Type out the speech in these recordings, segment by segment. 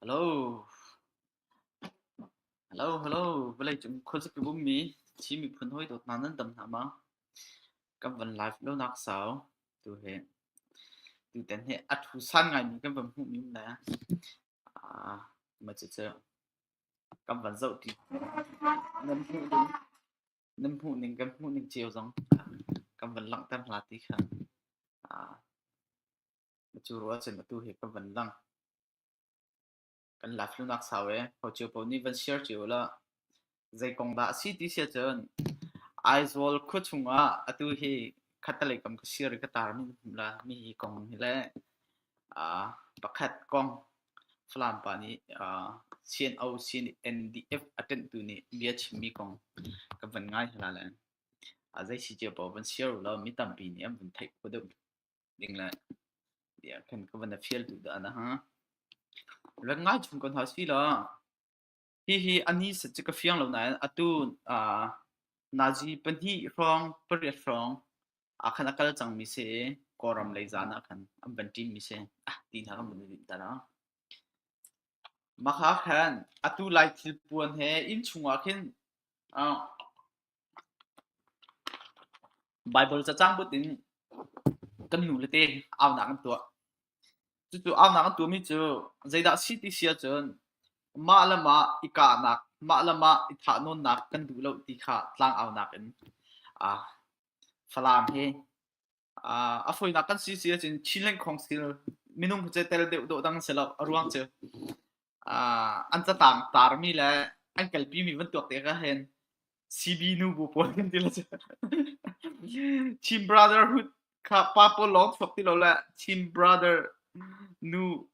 Hello. Hello, hello. Vawlei cung khuazik i bummi Chin miphun hawi dawt hna nan dam hna ma? Kan van live lo nak sau. Tu he tu ten he a thu san ngai mi kan van hmuh mi le ah ma cu cu Kan van zoh ṭi. Nan hmuhning kan hmuhning cio zong kan van langhter hna ti kha na cu ruah ahcun atu hi kan van lang. Kan la flunak sau ee. Hocio paoh nih van share cio hlah. Zei kong dah a si ti si ahcun Aizawl khua chungah atu hi khattelei kam ka share i ka tar hmum la mi hi kong hi le pakhat kong Falam pa nih CNO CNDF a ṭenhtu nih bia chimmi kong ka van ngai hla len. A zei si cio paoh van share u law mi tampi nih an vun theih kho deuh ding le tiah khan ka van fial tu dah na ha. Rat ngai chung ko hna sih law. Hihi a ni set cu ka fiang lo nain atu ah Nazi pahnih hrawng pariat hrawng ah khan a kal cangmi si i Kawlram lei zaan ah khan an van ṭinmi si ah ti hna kan van i rinter a. Mah kha khan atu lai thil puan he inn chungah khin ah Baibal cacang but in kan nu le te aunak an tuah. Cucu aunak an tuahmi cu zeidah a si ti si ahcun mah le mah i kahnak, mah le mah i thahnawnnak kan duh lo ti kha tlangaunak in aa falaam hi a fawinak kan si si ahcun Chin lengkhawng stil minung pace tel deuh dawh dang si lo a ruang cu an catang tarmi le an kalpimi van tuak te ka hen CB nu bu puan kan ti la cu Chin brotherhood kha pa pawl lawng chuak ti lo le Chin brother nu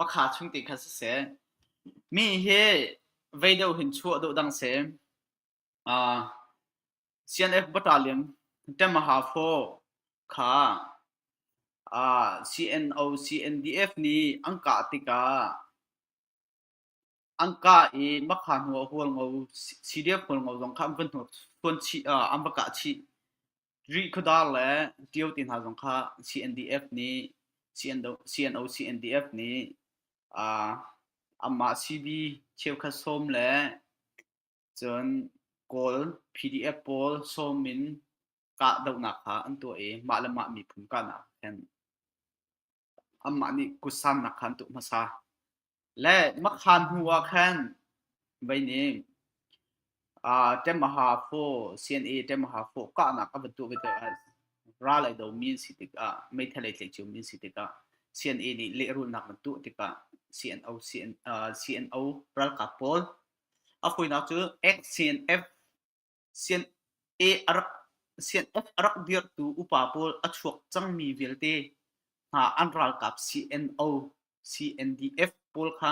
Makha chung ti kha siseh, mi hi vei deuh hin chuah duh dang seh. CNF battalion ṭem a hau faw kha CNO CNDF nih an kah tikah an kah i makha hnu ah hual ngo CDF hual ngo zong kha an va hnur ṭhuan chih an va kah chih rih khuadar le ṭio ti hna zong kha CNDF nih CNO CNDF nih anmah CB cheukhat sawm le Cun Kawl PDF pawl sawm in kahdohnak kha an tuah i mah le mah miphun kahnak khan anmah nih kutsannak kha an tuah hmasa. Le makhan hnu ah khan vei ning uh, Temaha Fo CNA Temaha Fo kahnak a van tuah vete ah ral ai do min si tikah meithalei tleicu min si tikah CNA nih lehrulnak van tuah tikah CNO CNO uh, CNO ralkap pawl A hawinak cu XCNF CNF a rak dirhtu upa pawl a chuak cangmi vialte hna an ralkap CNO, CNDF pawl kha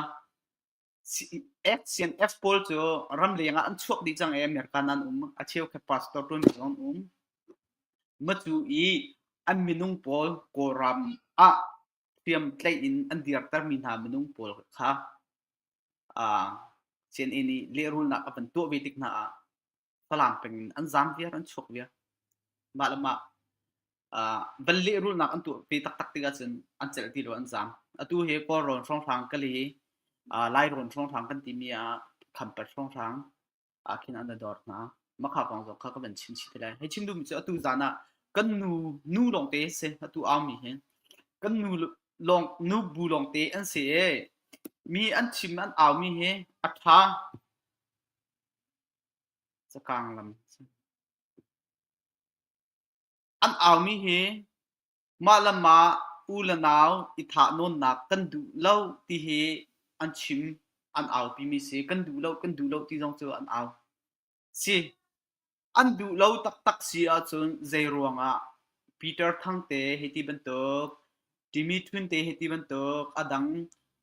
XCNF pawl cu ramleng ah an chuak dih cang i America nan um. A cheukhat pastor ṭuantu zong an um. Matu i an minung pawl Kawlram ah hriamtlaih in an dirtermi hna minung pawl kha Sianginn i lehrulnak a van tuah ve tik hna ah Falam peng in an zaam viar, an chuak viar. Mah le mah van lehrulnak an tuah ve taktak tikah cun an celh ti lo, an zaam. Atu hi Kawlrawn hrawnghrang, Kali, Lairawn hrawnghrang kan timi ah Khampat hrawnghrang, ah khin an dor hna makha kong zong kha ka van chim chih te lai hei chim duhmi cu atu zan ah kan nu nu lawngte si atu aumi hin kan nu lawng nu bu lawngte an si e mi an chim an aumi hi a tha cakang lam an aumi hi Mah le mah u le nau i thahnawnnak kan duh lo ti hi an chim an aupimi si. Kan duh lo, kan duh lo ti zong cu an au si. An duh lo taktak si ahcun zeiruangah Peter Thang te hi ti bantuk, Jimmy Chun te hi ti bantuk, a dang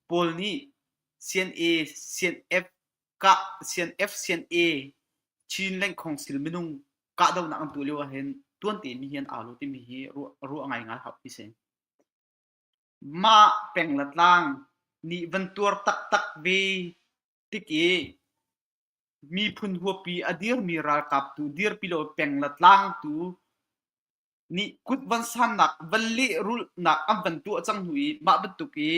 pawl nih CNA, CNF kah sian F sian A Chin lengkhong sil minung kahdohnak an tuah lio ah hin tuan temi hi an au lo timi hi ruah ngai ngai hap hi si. Mah peng la tlang nih van tuar taktak ve tik i miphun huapi a dirmi ralkap tu dirpi lo peng la tlang tu nih kut van sannak van lehrulhnak an van tuah cang hnu i mah bantuk i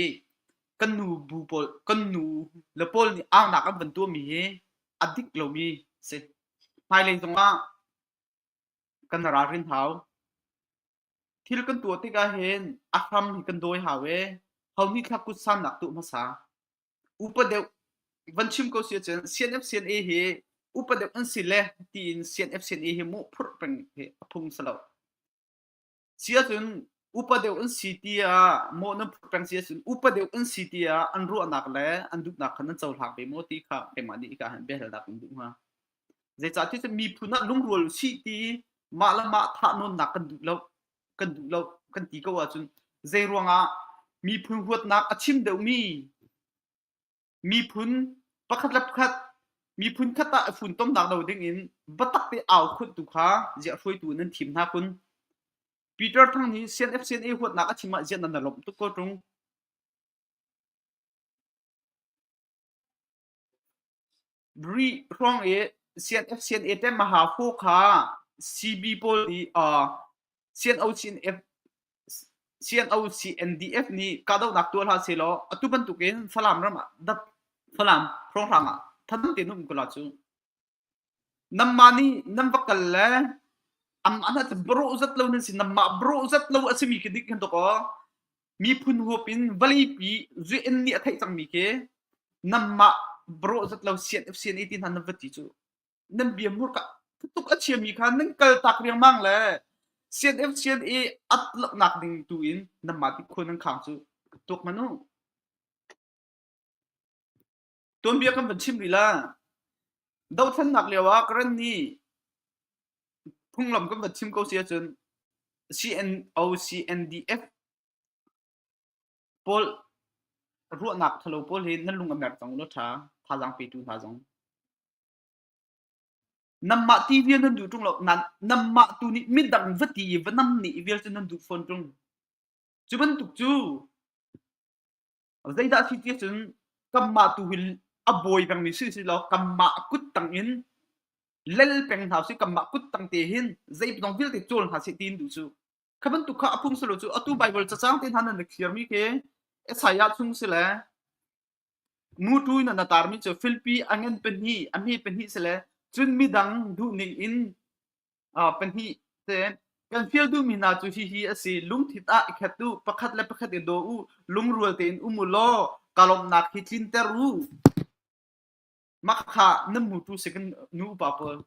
kan nu bu pawl kan nu le pawl nih aunak an van tuahmi hi a dik lomi a si. Hmailei zongah kan ralrin hau. Thil kan tuah tikah hin a hram hi kan dawi hau i ho nih thlak kut sannak tuah hmasa. upa deuh van chim ko si cun CNFCNA hi upa deuh an si le tiin CNFCNA hi mu phur peng hi a phung si lo sia cun upa deuh an si ti ah mo nan phur peng si cun upa deuh an si ti ah an ruahnak le an duhnak khan an cohlang ve mo ti kha keimah nih ka han behel dak in duh hnga zeicah ti cu miphun ah lungrual si ti mah le mah thah nawnnak kan duh lo kan duh lo kan ti ko ahcun zei ruangah miphun huatnak a chim deuhmi miphun pakhat le pakhat miphun khat ah i funtomnak do ding in batak te au khut tu kha zia hruaitu nan thim hna kun Peter Thang hi CNFCNA huatnak a thim ah zian nan lomh tuk ko tung Rih hrawng i CNF-CNA ṭemaha hraw kha CB pawl nih CNOC-NDF nih kahdohnak tuah hlah sehlaw atu bantukin Falam ram ah dap Falam hrawnghrang ah tha dang tein um ko la cu. Namma nih nan va kal le am an hat bro zat lo nan si namma bro zat lo a simi khi dik kan to ko. miphun huap in valipi zuin nih a theih cangmi khi namah brawh zat lo sian sian i ti hna nan va ti cu nan bia murka tuk a chiami kha nan kal tak riangmang le sian f sian i at laknak ding tu in nanmah ti khua nan khang cu ka tuk manu Tuanbia kan van chim rih la. Dohthlennak lio ah Karen nih phunglam kan van chim ko si ahcun CNO, CNDF pawl ruahnak thalo pawl hi nan lung a mer cang ulaw ṭha thazaang petu hna zong. Nanmah ti vial nan duh ṭung lo. Nanmah tu nih midang va ti i va nam nih vial cu nan duh fawn ṭung. Cu bantuk cu Zeidah a si ti ahcun kanmah tu hi a bawi pengmi si si law kanmah a kut tang in lel peng hna sih kanmah kut tang te hin zei dong vialte cawl hna sih tiin duh cu kha bantuk kha a phung si lo cu atu Baibal cacang te hna nan na khiarmi khi Isaiah chung si le nu tu in na tarmi cu filpi angen pahnih ami pahnih si le cun midang duhning in pahnih ten kan fial duhmi hna cu hihi a si lungthin ah i khat u pakhat le pakhat i daw u lungrual tein um u law ka lawmhnak hi tlinter u makha nan mu tu second nu upa pawl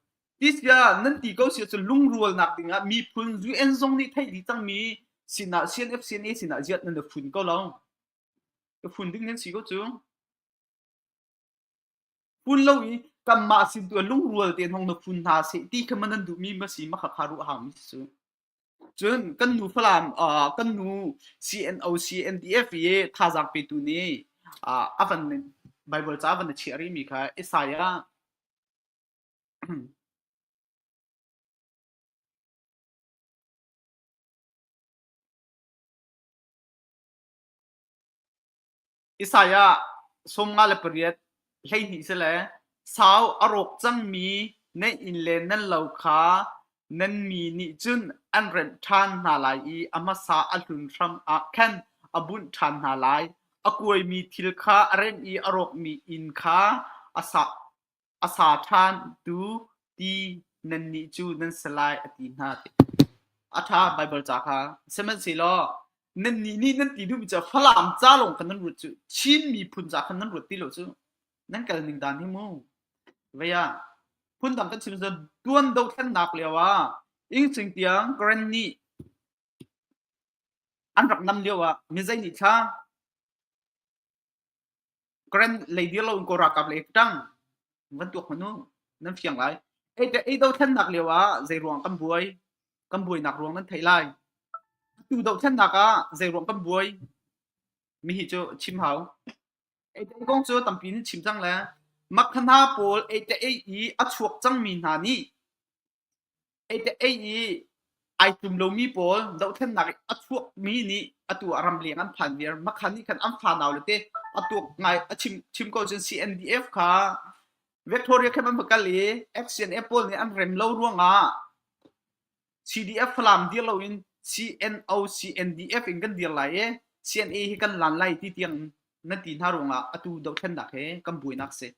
tisbia nan ti ko si cu lungrualnak dingah mi phun UN zong nih theih dih cangmi sinah CNF CNA sinah ziat nan da phun ko lo ka phun ding nan si ko cu Pun lo i kanmah sin tu ah lungrual tein hong na phun hna seh ti kha maw nan duhmi ma si ma khakha ruah hangmi si. Cun kan nu Falam uh, kan nu CNO CNDF i thazaang petu nih uh, a van Bible ca van na chiah rihmi kha Isaiah Isaiah sawm nga le pariat hleihnih si le sau a rawk cangmi nan inn le nan lo kha nan mi nih cun an renh ṭhan hna lai i a hmasa a hlun hram ah khan a bunh ṭhan hna lai. A kuaimi thil kha a remh i a rawkmi inn kha a sak. A sa ṭhantu ti nannih cu nan si lai a ti hna. A ṭha Baibal ca kha. Sihmanhsehlaw nannih nih nan ti duhmi cu Falam ca lawng khan nan ruat cu Chin miphun ca khan nan ruat ti lo cu nan kalning dan hi mu. Vei ah phundang kan chim cun tuan dothlennak lio ah Ingcing tiang Karen nih an rak nam lio ah mi zei nih thla Grand lady lo in Kawl ralkap le i ṭang van tuak hmanh u nan fiang lai. Ei te ei dothlennak lio ah zei ruang kan buai? Kan buainak ruang nan theih lai. Atu dohthlennak ah zei ruang kan buai? Mihi cu chim hau. Ei te kong cu tampi nih chim cang le makha hna pawl ei te ei i a chuak cangmi hna nih Ei te ei i ai tum lomi pawl dohthennak i a chuakmi nih atu ah ramleng an phan viar. Makhan nih khan an fa naule te a tuak ngai a chim chim ko cun CNDF kha Victoria khan an va kal i FCNF pawl nih an rem lo ruangah CDF Falam dir loin CNO CNDF in kan dir lai i CNA hi kan lan lai ti tiang nan ti hna ruangah atu dohthlennak hi kan buainak a si.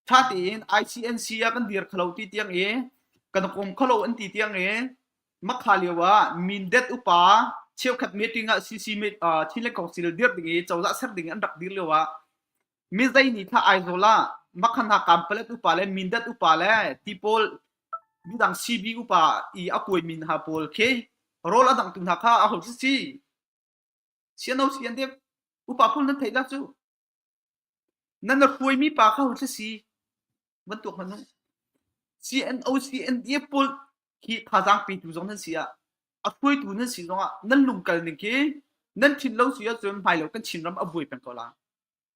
ṭha tein ICNC ah kan dir khalo ti tiang i kan kum khalo an ti tiang i makha lio ah mindet upa cheukhat meeting ah CC meet uh, thile council dir ding i cozah ser ding an rak dir lio ah mi zai ni tha aizawl ah makhan ha kampalet upa le mindet upa le tipol midang CB upa i akui min ha pol khi rol adang tu hna kha a ho si siano sian de upa pul nan thei la chu Nan a hruaimi pa kha hothla si van tuak hmanh u. CNO, CNDF pawl hi thazaang petu zong nan si ah, a hruaitu nan si zongah nan lungkal ning khi nan thin lo si ahcun hmailo kan Chinram a buai peng ko lai.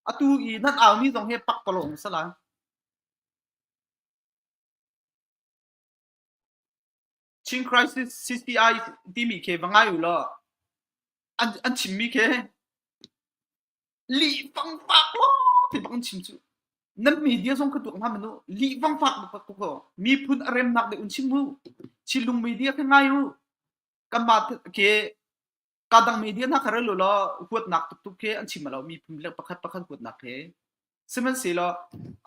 Atu i nan aumi zong hi pakpalawng a si lai. Chin Crisis CCI timi khi va ngai u law, an, an chimmi khi Lihfang fak maw ti bang an chim cu. Nan media zong ka tuak nga manu lihfang fak bak ko ko. Miphun a remnak dei un chim mu. Chilung media ka ngai u. Kanmah ke kadang media na kare lo lo huatnak tuktuk ke an chim lo miphun le pakhat pakhat huatnak ke. Sihmanhsehlaw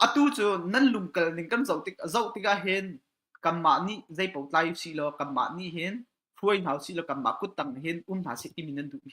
atu cu nan lungkal ning kan zoh tik zoh tikah hin kanmah nih zei pau tlai si lo kanmah nih hin hruai hna si lo kanmah kuttang hin um hna si timi nan duh mi.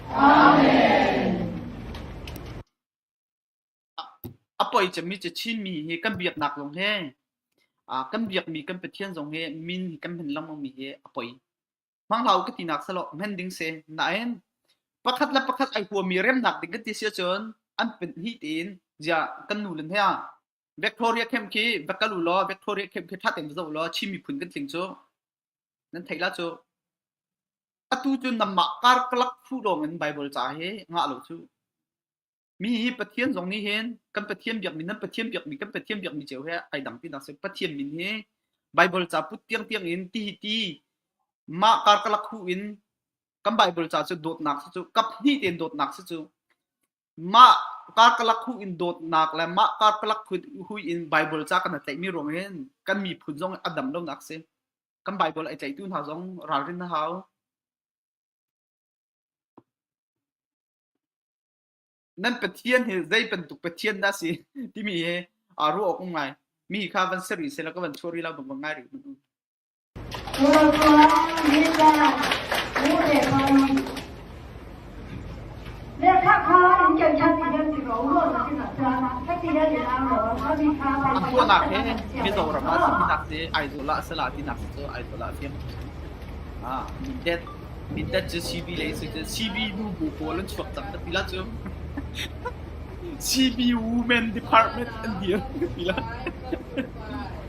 A poi cemmi Chinmi hi kan biaknak zong hi kan biakmi kan Pathian zong hi min hi kan hman lengmang mi hi a poi. Manglau ka tinak selaw hman ding se nain pakhat le pakhat ai huami remnak ding ka ti si cun an pen hi tiin ziah kan nu len hea Victoria camp khi va kal u law Victoria camp khi that in va zo law Chin miphun kan tling cu Nan theih la cu atu cu nanmah karkalak thlu lawngin Baibal ca hi ngah lo cu. Mi hi Pathian zong nih hin kan Pathian biakmi nan Pathian biakmi kan Pathian biakmi cio he ai dang tinak si. Pathian min hi Baibal ca put tiang tiang in ti hi ti mah karkalak hu in kan Baibal ca cu dawtnak si cu kap hnih tein dawtnak si cu Mah karkalak hu in dawtnak le mah karkalak hui in Baibal ca kan i tlaihmi ruangin kan miphun zong a dam lonak si. Kan Baibal ai tlaihtu hna zong ralrin a hau. Nan Pathian hi zei bantuk Pathian dah si timi hi a ruah awk um ngai. Mi hi kha van ser rih sela ka van chuah rih lo bang bang ngai rih. An kuanak he mizaw ram ah sinak te Aizawl ah sala tinak cu Aizawl ah tim. Ah, mindet mindet cu CB le si cu CB nu bu pawl an chuak tak ti la cu CB Women Department an dir ti la.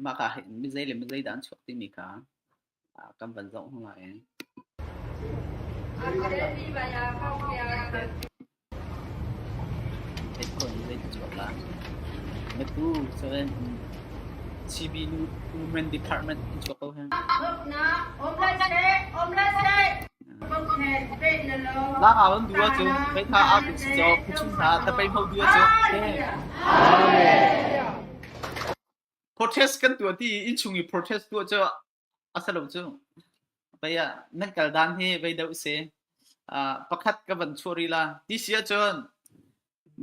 Mah ka hin mizei le mizei dah an chuak timi kha kan van zoh hna lai. Headphone mizei ka chuak la. Metu seven CB Women Department in chuak ko hen. Lang awan dua cu, pei tha a tu si cho, kuchin tha, ta pei mau dua cu. Amen. protest kan tuah ti i innchung i protest tuah cu a si lo cu pei ah nan kal dan hi vei do se pakhat ka van chuah ri la ti si ahcun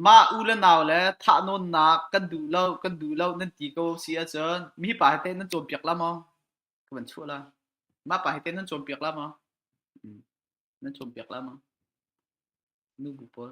mah u le nau le thah nawnnak kan duh lo kan duh lo nan ti ko si ahcun mi pa he nan cawn piak la maw ka van chuah la ma pa he nan cawn piak la maw nan cawn piak la maw nu bu pawl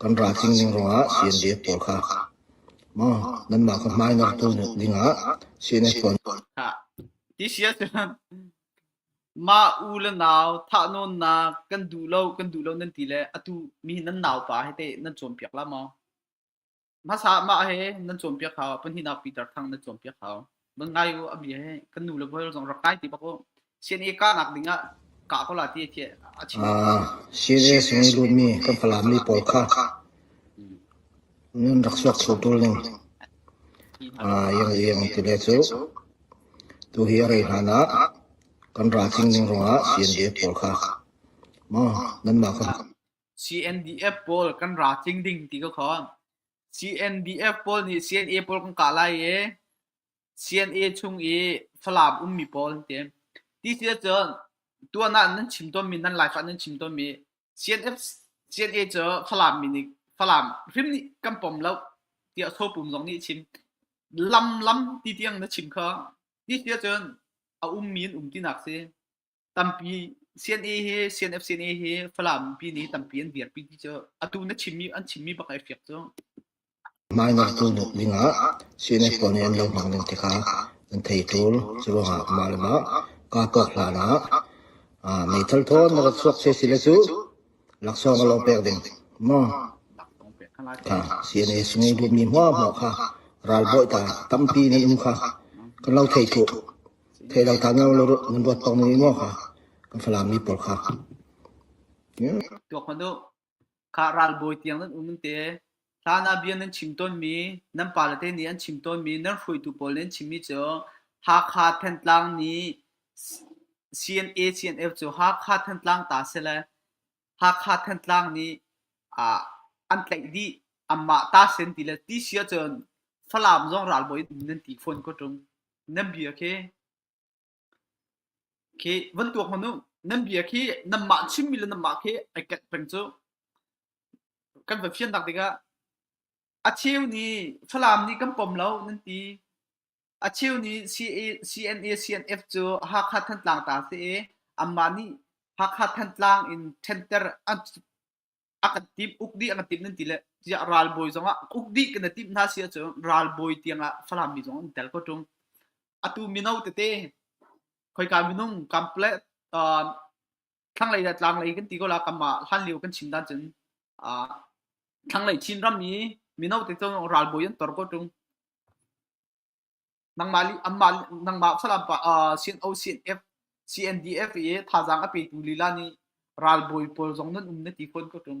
Kan ral tling ning ruangah CNDF pawl kha maw nanmah ka hmainortu dingah CNF pawl mah u le nau thahnawnnak kan duh lo kan duh lo nan ti le atu mi nan naupa hi teh nan cawnpiak la maw? Hmasa ah mah he nan cawnpiak hau, pahnihnak Peter thang nan cawnpiak hau. Man ngai u abi he kan nu le bual zong rak kai ti bak u. CNA kahnak ding ah kah ko la ti thi a chim. Ah, CNA sung i lumi kan falami pawl kha nun rak suak thlu tul ning ah yang yang ti le cu tu hi a rei hlan ah kan ral tling ning rong ah CNA pawl kha ma nan ma ka CNDF pawl kan ra tling ding ti ka khon. CNDF pawl nih CNA pawl kan kah lai i CNA chung i Falam ummi pawl an ti. Ti ti cun tuan ah nan chim tawnmi nan Laifah nan chim tawnmi CNF CNA cu Falam mi nih Falam hrim nih kan pom lo tiah Sopum zong nih a chim. Lam lam ti tiang na chim kha ti ti cun a ummi an um tinak si. Tampi CNA hi CNFCNA hi Falam pi nih tampi an dirpi ti cu atu na chimmi an chimmi bak ai fiak cu. Mah ngaktu tuk dingah CNF pawl nih an lohnak ding tikah an thei tul. Cu ruangah mah le mah kahkawk hlan ah ah meithal thawn na rak chuak se si le cu laksawng a lo pek ding. Maw Laksawng pek kan lai ka CNA sungei dutmi hmuahhmuah kha ralbawi ta tampi nih um kha kan lo thei tuk. Thei lo than lo nan ruat tawk ning maw kan Falam mi pawl kha? Tuak hmanh u. Kha ralbawi tiang nan um nan te. Hlan ah bia nan chim tawnmi, nan pale te nih an chim tawnmi, nan hruaitu pawl nih an chimmi cu Hakha Thantlang nih CNA CNF cu Hakha Thantlang ta sile Hakha Thantlang nih an tlaih dih. Anmah ta sen ti le ti si ahcun Falam zong ralbawi nan ti fawn ko ṭung. Nan bia khi khi van tuak hmanh u. Nan bia khi nanmah chimmi le nanmah khi ai ket peng cu. Kan va fiannak tikah a cheu nih Falam nih kan pom lo nan ti. A cheu nih CNA-CNF cu Hakha Thantlang ta si i anmah nih Hakha Thantlang in ṭhenter a kan timh, uk dih a kan timh nan ti le tiah ralbawi zongah uk dih kan i timh hna si ahcun ralbawi tiangah Falam mi zong an tel ko ṭung. Atu mino tete khoika minung Complaint thlanglei le tlanglei kan ti ko la kam ah hlan lio kan chin dan cun uh, thlanglei chin ram i mino te cun ralbawi an tor ko tung nangma li amma nangma salam pa sin o sin f cndf i thazang ape tu lila ni ralbawi pawl zong nan um na ti khon ko tung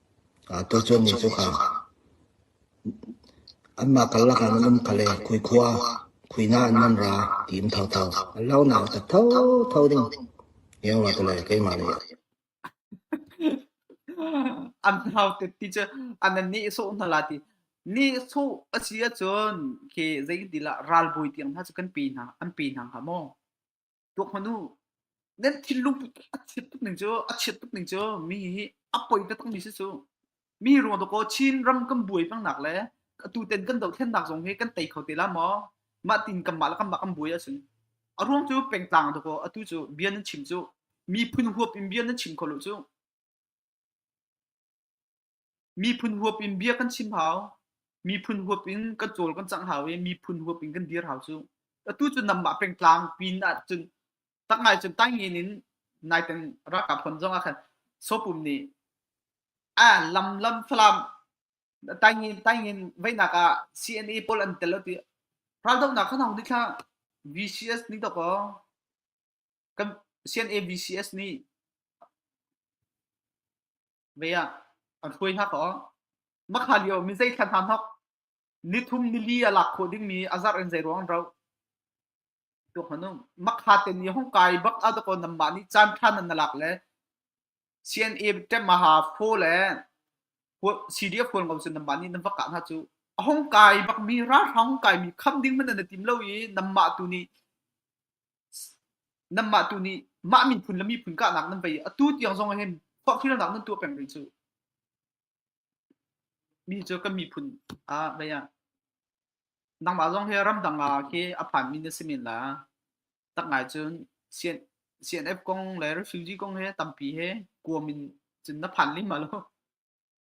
Tucun mi cu anmah karlak ah an um kha le khuikhua, khuihnah in an ra ti um thotho. An launak a tat thotho ding tiah an ra te le keimah nih. An hau te ti cu an nihsawh hna la ti. Nihsawh a si ahcun khi zeitin dah ralbawi tiang hna cu kan pi hna, an pi hna hnga maw? tuak hmanu nan thil lungput a chiat tuk ning cu a chiat tuk ning cu mi hi a poi ta tak mi si cu mi ruang to ko chin ram kan buai pang nak le atu ten kan do thlen nak zong hi kan tei kho te la mo ma tin kam ma la kam ma kan buai asin a ruang cu peng tlang to ko atu cu bian nan chim cu mi phun huap in bian nan chim kholo cu Miphun huap in bia kan chim hau. Miphun huap in kan cawl kan cang hau i miphun huap in kan dir hau cu. Atu cu namah pengtlang pin ahcun tak ngai cun taingin in nai teng ralkap pon zong ah khan Sopum nih a lam lam Falam taingin taingin veihnak ah CNA pawl an tel ti raldohnak khan hong dithla VCS nih dok aw kan CNA VCS nih ve ah an hruai hna ko mah kha lio mi zei thlan hna hnok ni thum ni li a lak khawh ding mi a zarh in zei ruang ro to hanung makha te ni hong kai bak a ko nam ma ni chan than nan lak le CNA temaha pho le CDF phone ngom sun nam ma ni nam vaka na chu hong kai bak mi ra hong kai mi kham ding man na tim lo i nam ma tu ni nanmah tu nih mah miphun le miphun kahnak nan vei atu tiang zong hin forhfialnak nan tuah peng rih cu mi cu kan miphun ah vei ah nangmah zong hi ramdang ah khi a phanmi na si men la tak ngai cun CNF kong le refugee kong he tampi he kuam in cun na phan lim ma lo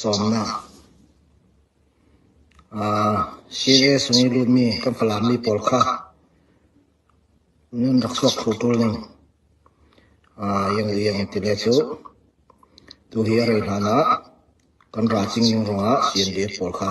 Cawnnak CS nih lutmi kan Falam mi pawl kha nun rak chuak thlu ṭul ning iangliang an ti le cu. Tuhi a rei hlan ah kan ra cing ning ruangah si an dir pawl kha.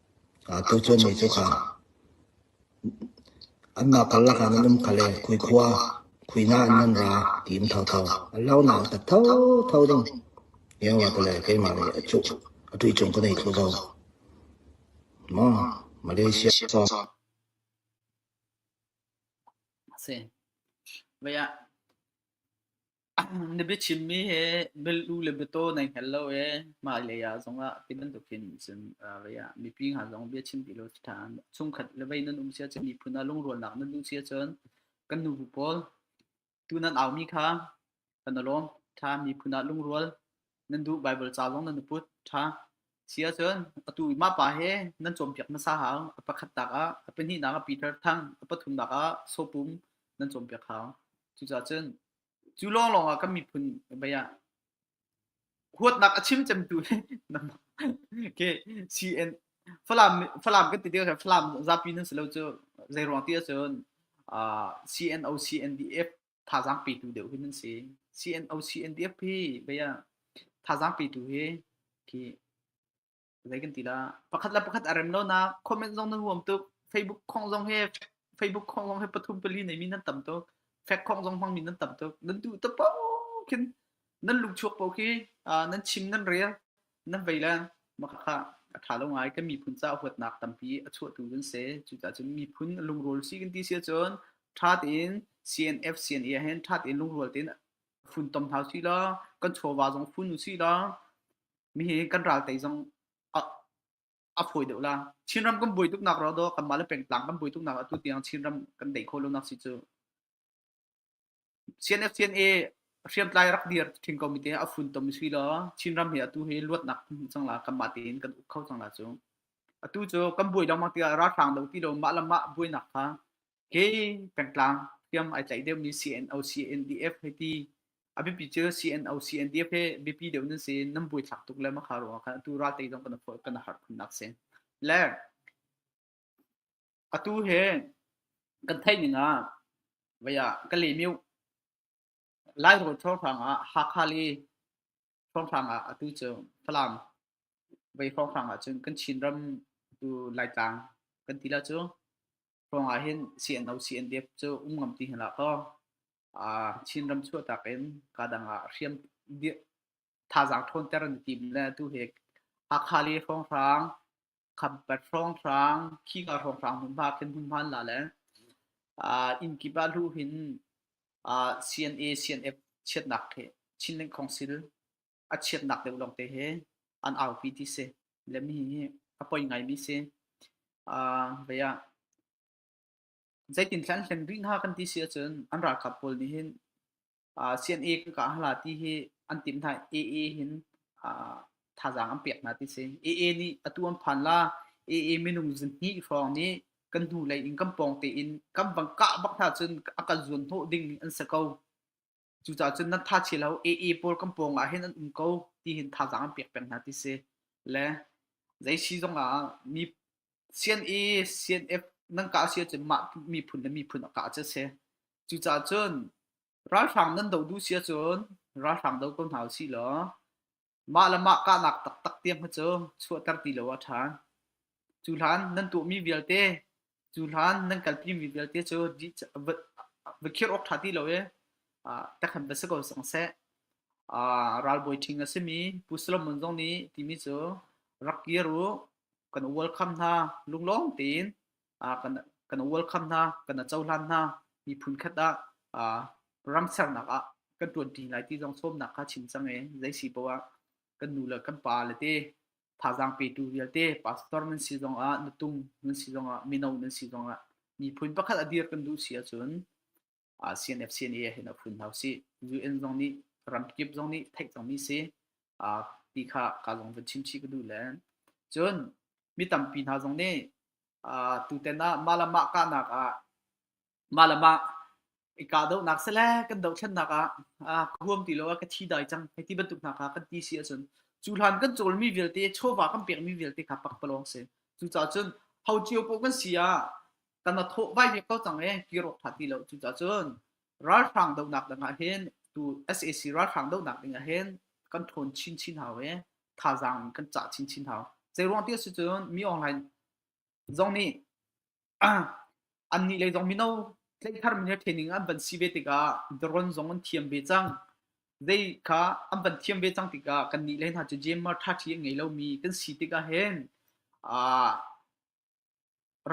Tucun mi cu kha anmah karlak ah nan um kha le khui khua khuinak in nan ra ti in thotho a lonak in ka thotho ding lioah tile keimah nih a cuh a tuicung ka nei thlu ko. Maw Malaysia song a si. Vaya. Na biachimmi hi bialu le biataw nai hngal lo i hmailei ah zongah ti bantukin cun uh, vei ah mipi hna zong biachim ti lo ṭhan. Chungkhat le vei nan um sia cun miphun ah lungrunnak nan duh sia cun kan nubu pawl tu nan aumi kha kan i lawm ṭha miphun ah lungrual nan duh Baibal ca zong nan i put ṭha sia cun atu i mah pa he nan cawnpiak hmasa hau a pakhat tak ah a pahnihnak ah Peter thang a pathumnak ah sopum nan cawnpiak hau cucacun Cu lawnglawng ah kan miphun bei ah huatnak a chim cemtu khi CN Falam Falam kan ti ti ko Falam zapi nan si lo cu zeiruang ti ahcun uh, CNO CNDF thazaang petu deuh hi nan si CNO CNDF hi bei ah thazaang petu hi khi zei kan ti la pakhat le pakhat a rem lo na comment zong na huam tuk facebook khong zong he facebook khong zong he pathum pali nei mi nan tam tuk fact khong zong hmang mi nan tam tuk nan du ta po kin nan luk chuak po khi nan chim nan rel nan vei la makaka a tha lo ngai kan miphun ca huat nak tampi a chuah tu dun se cu ta cun miphun lungrol si kan ti sia chun tha tin CNF CNA hen tha tin lungrol tin fun tom hau si la kan chowa zong fun si la mihi kan ral tei zong a, a phui deuh la Chinram kan bui tuk nak ro do kan mah le pengtlang kan bui tuk nak atu tiang Chinram kan dei kho lo nak si cu CNFCNA hriamtlai rak dir thin ko mi te a fun tom si lo Chinram hi atu hi luat nak chang la kan mah tein kan uk kho chang la cu atu cu kan bui dong mang tiga ra thang do ti lo mah la mah bui nak kha Kei pengtlang tiam ai tlaih deuhmi CNOC NDF hei ti a biapi cu CNOC NDF he biapi deuh nan si nan buaithlak tuk le makha ruang kan atu ral te zong kan kan har khunnak si le atu he kan thei ning ah vaya ka le miu lai ro thor hrang ah hakha li thor hrang ah atu cu falam vai thor hrang ah cun kan chin ram tu lai tlang kan ti la cu ruangah hin CNO CNDF cu um ngam ti hna kaw uh, Chinram chuahtak in kadang ah hriam thazaang ṭhawnter an tim le tu he Hakhali hrawnghrang Khampat hrawnghrang Khiga hrawnghrang hmunhma khin hmunhman la le uh, inn kipa hlu hin uh, CNA CNF chiatnak he Chinling Council a chiatnak deuh lawngte hi an aupi ti si le mi hi a poi ngaimi si uh, vea zeitin thlan hlen rih hna kan ti si ahcun an ralkap pawl nih hin uh, CNA kan ka hala ti hi an tim hna AA hin uh, thazaang an pek hna ti si AA nih atu an phan la AA minung zinni hrawng nih kan hnu lei in kan pawng te in kan bang kah bak hna cun a kan zuan hnawh ding an sa ko Cucaah cun nan thachi lo AA pawl kan pawng ah hin an um ko tihin thazaang an pek peng hna ti si. Le zei si zong ah mi sian i CNF nan kah si ahcun mah miphun le miphun a kah cu a si. Cucaah cun ralhrang nan doh duh si ahcun ralhrang do ko hna u sih law Mah le mah kahnak taktak tiang hi cu chuahter ti lo a ṭha. Cu hlan nan tuahmi vialte, cu hlan nan kalpimi vialte cu di va, va khirh awk ṭha ti lo i ah, tekhan va si ko sang seh. Ah, ralbawi ṭhing a simi Pu Solomon zong nih timi cu rak kir u, kan welcome hna lunglawm tein. kan welcome hna, kan a cohlan hna. Miphun khat ah ram sernak ah kan ṭuanṭi lai ti zong sawmnak kha chim cang i zei si poah ah kan nu le kan pa le te thazaang petu vialte pastor nan si zong ah na tung nan si zong ah mino nan si zong ah miphun pakhat a dir kan duh si ahcun ASEAN FCNA ah hin a phun hau si. UN zong nih ramkip zong nih theih cangmi si. Uh, ti kha ka zong van chimchi ka duh len. Cun mi tampi hna zong nih uh, tuten ah malama kahnak ah malama i ka doh nak se le kan doh thlen nak ah uh, ka huam ti lo ah ka thi dai cang hei ti bantuk hna kha kan ti si ahcun cu hlan kan cawlmi vialte chawva kan pekmi vialte kha pak palawng si cucaah cun hau cio po kan si ah kan athawh vai ve ko cang e kiro tha ti lo cu cun ralhrang donak dang ah hin tu SAC ralhrang donak ding ah hin kan thawn chin chin hau e thazaang kan cah chin chin hau zei ruang ti si cun mi online zong nih an nih lei zong mino tleithar min le training an van si ve tikah drone zong an thiam ve cang zei kha an van thiam ve cang tikah kan nih le hna cu GMR tha thi an ngei lomi kan si tikah hin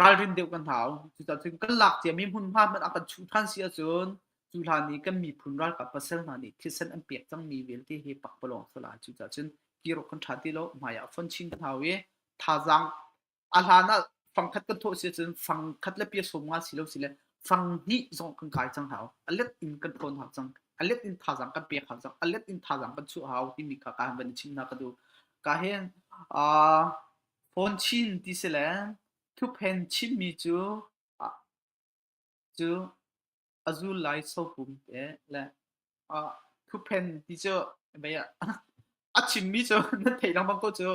ralrin deuh kan hau. Cucaah cun kan lak ciami hmunhma hmanh ah kan chuh ṭhan si ahcun cu hlan i kan miphun ralkap pasal hna nih thisen an pek cangmi vialte hi pakpalawng a si lai. Cucaah cun kir awk kan ṭha ti lo. Hmai ah fonh chin kan hau i thazaang a hlan ah fangkhat kan thawh si ahcun fangkhat le pia sawm nga si lo sile fang hnih zong kan kai cang hau. A let in kan ṭawn hau cang. A let in thazaang kan pek hau cang. A let in thazaang kan chuah hau timi kha ka han van i chim hna ka duh. Ka hin, aa, Fawn chin ti si le thuphen chinmi cu a zul lai sopum te le thuphen ti cu a chimmi cu nan theih lengmang ko cu.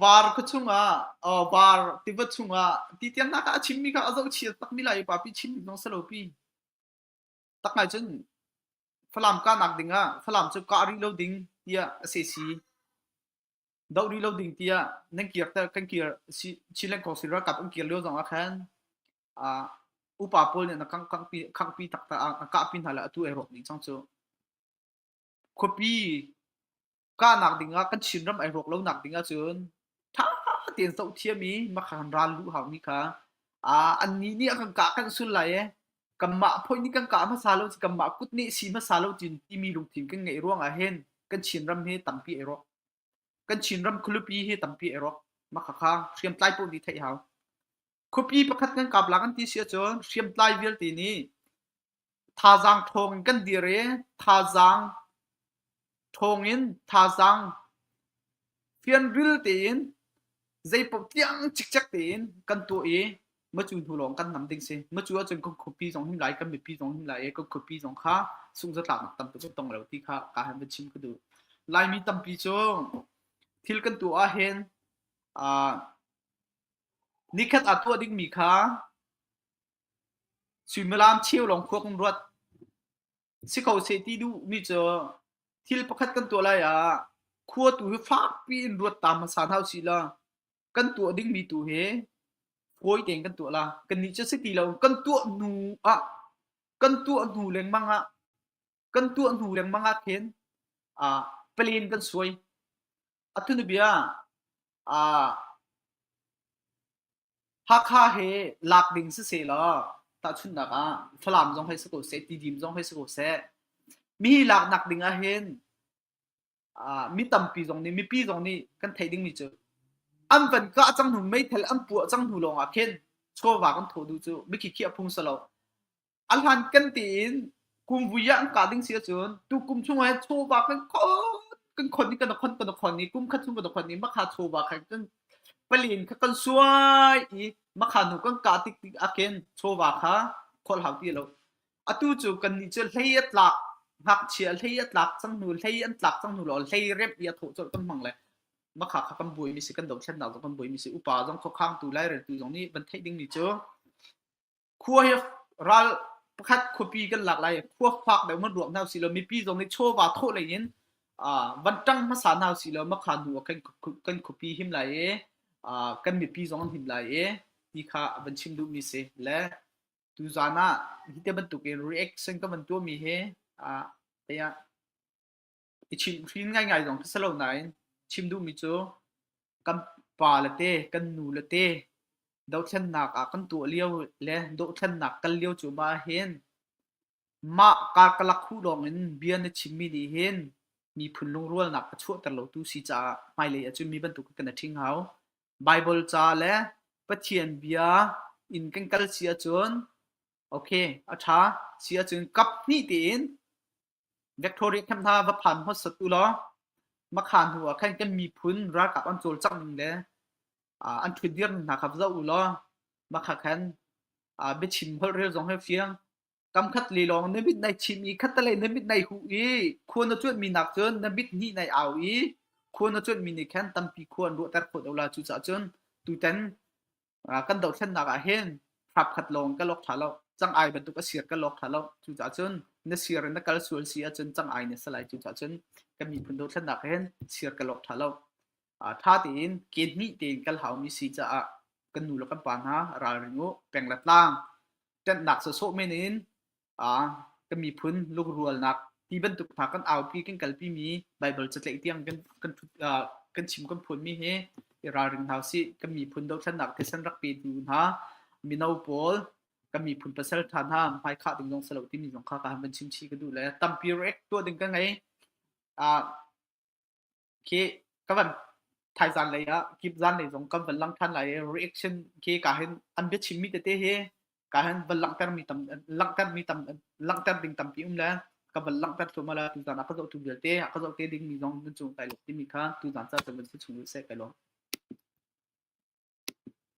Var khua chungah var tiva chungah ti tiangnak ah a chimmi kha a zohchia takmi lai upa pi chim hnawng si lo pi. Tak ngai cun Falam kahnak dingah Falam cu kah rih lo ding tiah a si si. Doh rih lo ding tiah nan kir ter kan kir si Chin Leng Council ralkap an kir lio zong ah khan uh, upa pawl nih na kangpi kangpi takta na kahpi hna le atu ai rawk ding chang cu khuapi kahnak ding ah kan Chin ram ai rawk lo nak ding ah cun tha tein zoh thiam i makhan ral lu hau ni kha a an ni nih a kan kah kan sul lai e kanmah phoih nih kan kah hmasa lo kanmah kut nih si hmasa lo tiin timi lungthin kan ngeih ruang ah hin kan Chinram hi tampi ei rawk kan Chinram khualupi hi tampi ei rawk makhakha hriamtlai poh nih theih hau khuapi pakhat kan kap la kan ti si ahcun hriamtlai vialte nih thazaang thawng in kan dir i thazaang Thawngin thazaang fianril tein zeipaoh tiang cikcek tein kan tuah i macu hnu lawng kan nam ding si. Macu ahcun kan khuapi zong him lai, kan mipi zong him lai i kan khuapi zong kha sunghzatlaknak tam tuk a tong lai lo ti kha kaa han va chim ka duh. Laimi tampi cu thil kan tuah ahhin aa nikhat aa tuah dingmi kha suimilam cheu lawng khua kan ruat. Si ko seh ti duhmi cu thil pakhat kan tuah lai ah khua tu hi fakpi in ruat ta hmasa hna usih law kan tuah dingmi tu hi fawi tein kan tuah la kannih cu si ti lo kan tuah hnu ah kan tuah hnu lengmang ah kan tuah hnu lengmang ah khin ah plan kan suai a thunu bia ah Hakha he lak ding si sehlaw tahchunhnak ah Falam zong hei si ko seh, Tidim zong hei si ko seh, mi laknak ding ahhin ah mi tampi zong nih mipi zong nih kan theih dingmi cu an van kah cang hnu meithal an puah cang hnu lawngah khin chawva kan thaw duh cu mikhikhi a phung si lo. a hlan kan tein kum vui ah an ka ding si ahcun tu kum chung ah chawva kan khon kan khon i kan khon kan khon i kum khat chung kan khon i makha chawva khan kan palin kha kan suai i makha nu kan ka tik tik aken chawva kha khol hau ti lo atu cu kan ni cu hlei atlak ngakchia hlei atlak chang nu hlei an tlak chang nu lo hlei rep ia tho chol kan mang le makha kha kan bui mi si kan do thlen dal kan bui mi si upa zong kho khang tu lai rel tu zong ni van thei ding ni cu khua hi ral pakhat khuapi kan lak lai khua fak deuh man ruak hna silaw mipi zong nih chawva thawh lei in van ṭang hmasa hna silaw makha hnu ah kan khuapi him lai i kan mipi zong an him lai i ti kha van chim duhmi si le tuzan ah hi ti bantuk in reaction ka van tuahmi hi ah i chimhhrin ngaingai zong khi si lo nain chim duhmi cu kan pa le te, kan nu le te dothlennak ah kan tuah lio le dothlennak kal lio cu ma hin mah kaa ka lak hu lawng in bia na chimmi nih hin miphun lungrualnak a chuahter lotu si caah hmailei ah cun mi bantuk kan i ṭhing hau. Baibal ca le Pathian bia in kan kal si ahcun okay a ṭha si ahcun kap hnih tiin Victoria camp hna va phan hmasat u law makha hnu ah khan kan miphun ralkap an cawlcangh ning le an ṭhutdir ning hna kha va zoh u law makha khan biachim holh rel zong hi a fiang. Kamkhat le lawng na mit nai chim i khattelei na mit nai huh i khua na cuanhmi nakkcun na mit hnih nai au i khua na cuanhmi nih khan tampi khua an ruahter khawh lo la. Cucaah cun tutan kan dohthlennak ah hin hrapkhat lawng ka lok ṭha lo cang ai bantuk a sir ka lok ṭha lo cucaah cun na sir na kal sual si ahcun cang ai na salai cucaah cun kan miphun dothlennak ah hin sir ka lok ṭha lo ṭha tein ken hnih tein kal haumi si caah kan nu le kan pa hna ralring u peng le tlang ṭanhnak sawsawh men in ah kan miphun lungrualnak ti bantuk hna kan aupi kan kalpi mi Bible catlaih tiang kan kan uh, kan chim kan phun mi hi i ralring hna si kan miphun dothlannak thisen rak pe tu hna mino pawl kan miphun pasal tha hna mai kha ding zong salo ti mi zong kha ka han ban chim chi ka du le tampi rek tua ding ka ngei a khi ka van thai zan lei ah kip zan lei zong kan van lang than lai i reaction khi ka hin an bia chim mi tete hi ka hin van langhter mi tam langhter mi tam langhter ding tampi um le ka van langhter thuma la tu zan ah ka zoh tu vialte a ka zoh te ding mi zong nan cung kai lo timi kha tu zan sa chun van si chung se kai lo